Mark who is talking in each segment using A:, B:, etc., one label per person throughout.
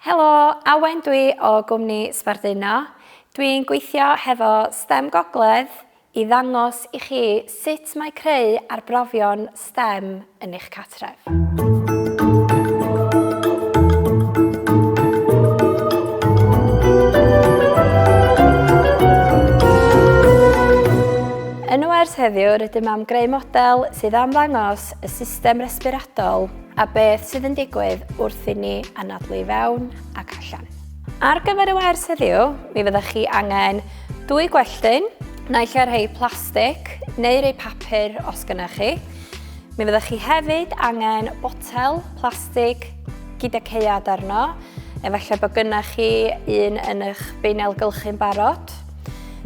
A: Helo, Awen dwi o gwmni Sbarduno. Dwi'n gweithio hefo stem Gogledd i ddangos i chi sut mae creu arbrofion stem yn eich cartref. Yn y wers heddiw rydym am greu model sydd am ddangos y system resbiratol A beth sydd yn digwydd wrth i ni anadlu i fewn ac allan. Ar gyfer y wers heddiw, mi fyddech chi angen dwy gwelltyn, naill ar rhai plastig neu rhai papur os gynnech chi. Mi fyddech chi hefyd angen botel plastig gyda ceiad arno, efallai bod gynnech chi un yn eich beinel gylchu'n barod.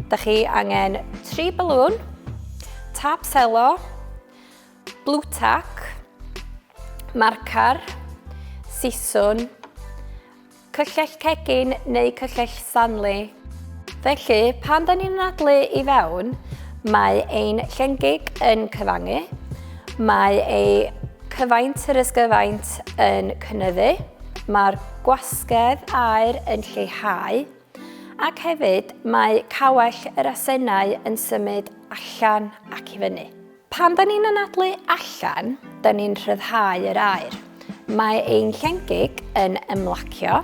A: Da chi angen tri balŵn, tap selo, Blue tack, marcar, siswn, cyllell cegin neu cyllell Stanley. Felly, pan da ni'n anadlu i fewn, mae ein llengig yn cyfangu, mae ei cyfaint yr ysgyfaint yn cynyddu, mae'r gwasgedd aer yn lleihau, ac hefyd mae cawell yr asennau yn symud allan ac i fyny. Pan da ni'n anadlu allan, da ni'n rhyddhau yr aer. Mae ein llengig yn ymlacio.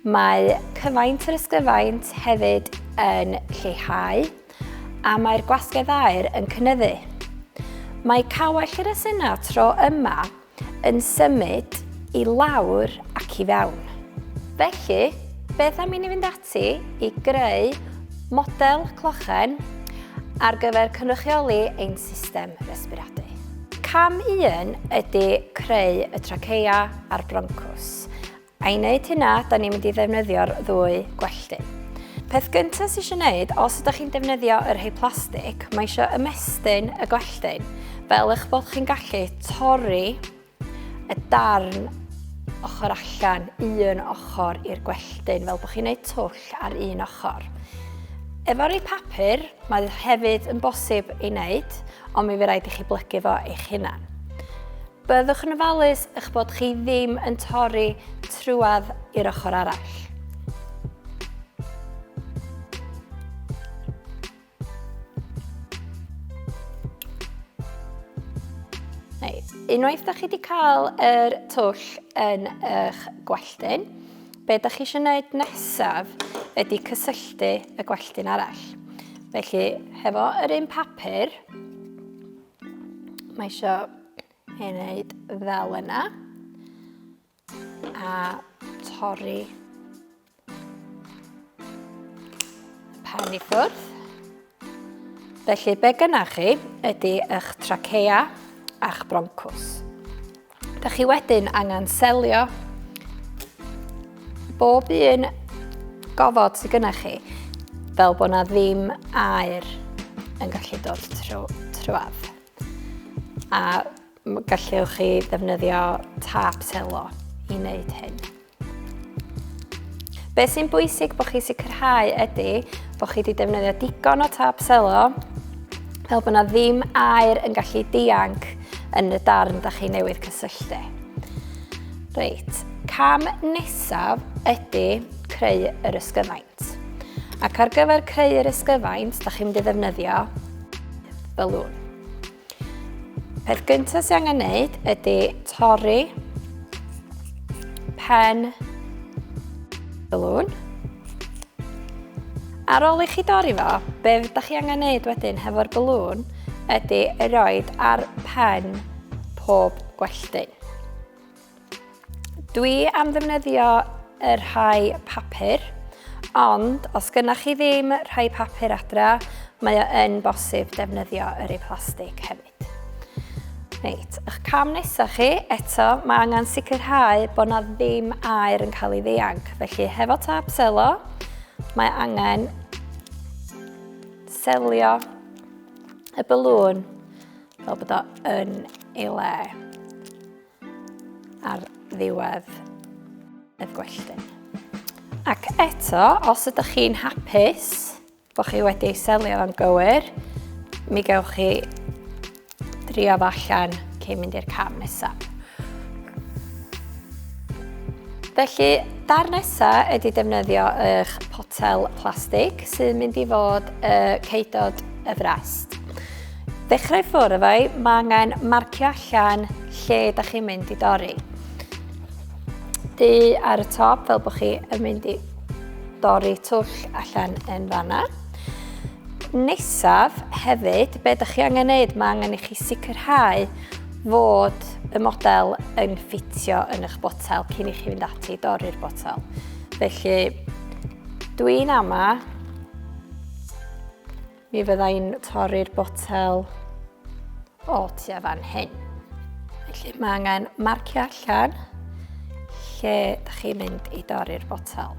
A: Mae cyfaint yr ysgyfaint hefyd yn lleihau a mae'r gwasgedd aer yn cynyddu. Mae cawell yr asenau tro yma yn symud i lawr ac i fewn. Felly, beth am i ni fynd ati i greu model clochen ar gyfer cynrychioli ein system resbiradu. Cam 1 ydy creu y traceia a'r broncws. I wneud hynna, da ni'n mynd i ddefnyddio'r ddwy gwelltu. Peth gyntaf sy'n eisiau gwneud, os ydych chi'n defnyddio yr rhai plastig, mae eisiau ymestyn y gwelltu fel eich bod chi'n gallu torri y darn ochr allan, un ochr i'r gwelltyn, fel bod chi'n gwneud twll ar un ochr. Efo rei papur, mae hefyd yn bosib ei wneud, ond mi fe rhaid i chi blygu fo eich hunan. Byddwch yn ofalus eich bod chi ddim yn torri trwad i'r ochr arall. Unwaith da chi wedi cael yr twll yn eich gwelltyn, be da chi eisiau gwneud nesaf ydy cysylltu y gwelltyn arall. Felly, hefo yr un papur, Mae eisiau ei wneud fel yna. A torri pen i ffwrdd. Felly, be gynnach chi ydy eich trachea a'ch broncws. Da chi wedyn angen selio bob un gofod sydd gynnech chi fel bod na ddim air yn gallu dod trwy, trwad. A gallwch chi ddefnyddio tap selo i wneud hyn. Beth sy'n bwysig bod chi sicrhau ydy bod chi wedi defnyddio digon o tap selo fel bod yna ddim air yn gallu dianc yn y darn da chi newydd cysylltu. Reit, cam nesaf ydy creu yr ysgyfaint. Ac ar gyfer creu yr ysgyfaint, da chi'n mynd i ddefnyddio balloon. Peth gyntaf sy'n angen wneud ydy torri pen balloon. Ar ôl i chi dorri fo, be ydych chi angen wneud wedyn hefo'r balloon ydy roed ar pen pob gwelltyn. Dwi am ddefnyddio y rhai papur, ond os gynnach chi ddim rhai papur adra, mae o yn bosib defnyddio yr ei plastig hefyd. Reit, ych cam nesaf chi, eto, mae angen sicrhau bod na ddim air yn cael ei ddeanc. Felly, hefo tap selo, mae angen selio y balŵn fel bod o yn ei le. ar ddiwedd y gwelltyn. Ac eto, os ydych chi'n hapus bod chi wedi ei selio yn gywir, mi gewch chi drio fo allan cyn mynd i'r cam nesaf. Felly, dar nesaf ydy defnyddio eich potel plastig sy'n mynd i fod y ceudod y frest. Dechrau ffwrdd efo i, mae angen marcio allan lle da chi'n mynd i dorri. Du ar y top fel bod chi yn mynd i dorri twll allan yn fanna. Nesaf hefyd, be da chi angen neud, mae angen i chi sicrhau fod y model yn ffitio yn eich botel cyn i chi fynd ati i dorri'r botel. Felly, dwi'n ama Mi fydda i'n torri'r botel o tua fan hyn. Felly mae angen marcio allan lle da chi'n mynd i dorri'r botel.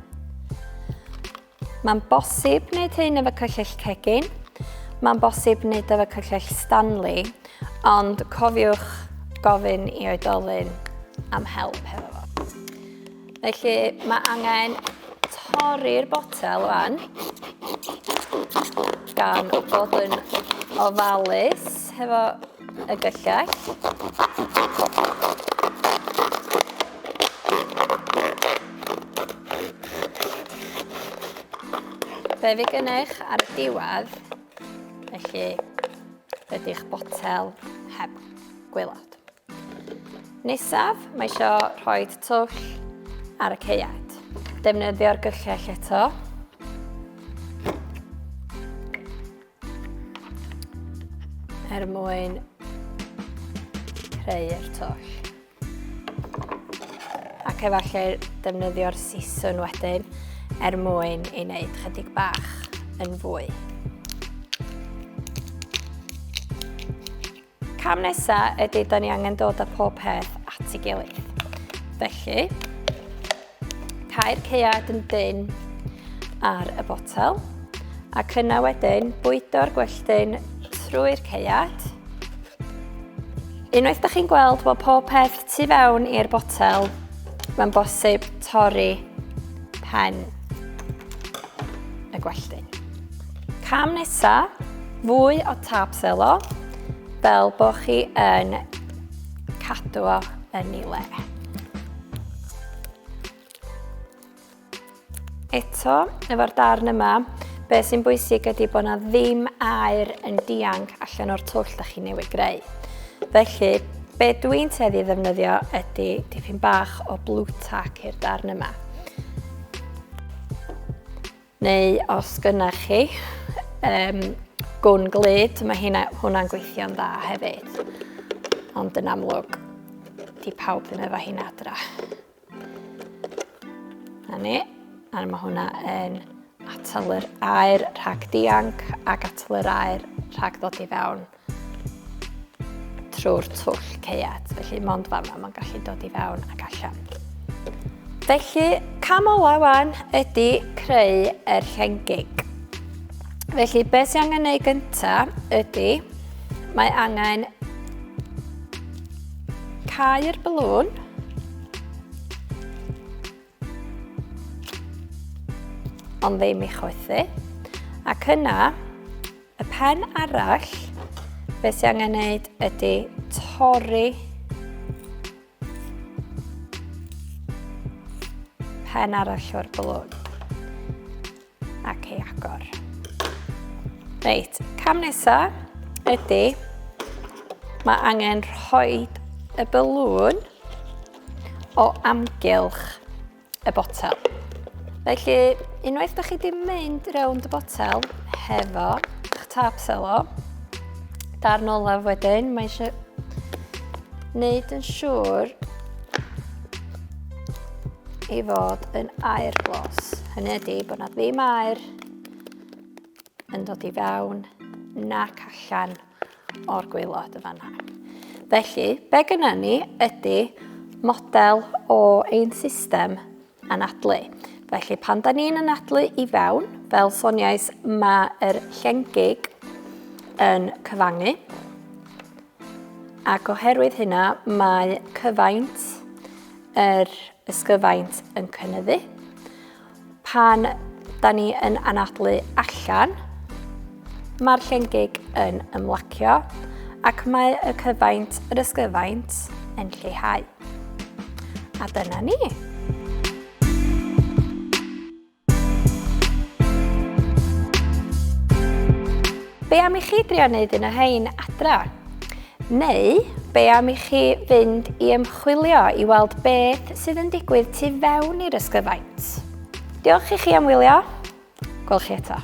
A: Mae'n bosib wneud hyn efo cyllyll cegin, mae'n bosib wneud efo cyllyll Stanley, ond cofiwch gofyn i oedolyn am help hefo fo. Felly mae angen torri'r botel fan gan bod yn ofalus hefo y gyllell. Be fi gynnech ar y diwedd, felly ydy'ch botel heb. gwaelod. Nesaf, mae isio rhoi twll ar y ceiad. Defnyddio'r gyllell eto. Er mwyn creu'r twll. Ac efallai defnyddio'r siswn wedyn er mwyn ei wneud chydig bach yn fwy. Cam nesa ydy da ni angen dod â pob peth at ei gilydd. Felly, cair ceuad yn dyn ar y botel ac yna wedyn bwydo'r gwelltyn trwy'r ceuad. Unwaith da chi'n gweld bod pob peth tu fewn i'r botel, mae'n bosib torri pen y gwelltu. Cam nesa, fwy o tap selo, fel bod chi yn cadw o yn ei le. Eto, efo'r darn yma, be sy'n bwysig ydy bod yna ddim air yn dianc allan o'r twll da chi newydd greu. Felly, be dwi'n teddi ddefnyddio ydy dipyn bach o blue tack i'r darn yma. Neu os gynnau chi um, gwn glyd, mae hynna, hwnna'n gweithio'n dda hefyd. Ond yn amlwg, di pawb ddim efo hyn adra. Na ni, a mae hwnna yn atal yr aer rhag dianc ac atal yr aer rhag ddod i fewn. trwy'r twll ceiat, felly mond fan yma mae'n gallu dod i fewn ac allan. Felly, cam ola wan ydy creu yr llengig. Felly, beth sy'n angen ei gyntaf ydy, mae angen cau'r balŵn, Ond ddim i chwythu. Ac yna, y pen arall, beth sy'n angen neud ydy torri pen arall o'r blwg. ac ei agor. Reit, cam nesa ydy, mae angen rhoi y balŵn o amgylch y botel. Felly, unwaith da chi wedi mynd rownd y botel hefo eich tap selo, darn olaf wedyn, mae eisiau wneud yn siŵr i fod yn air glos. Hynny ydy bod na ddim air yn dod i fewn nac allan o'r gweilod y fanna. Felly, be gyda ni ydy model o ein system anadlu. Felly, pan da ni'n anadlu i fewn, fel soniais, mae'r llengig yn cyfangu. Ac oherwydd hynna, mae cyfaint yr ysgyfaint yn cynyddu. Pan da ni yn anadlu allan, mae'r llengig yn ymlacio ac mae y cyfaint, yr ysgyfaint, yn lleihau. A dyna ni. Be am i chi drio wneud un o hein adra? Neu, be am i chi fynd i ymchwilio i weld beth sydd yn digwydd tu fewn i'r ysgyfaint? Diolch i chi am wylio. Gwelch chi eto.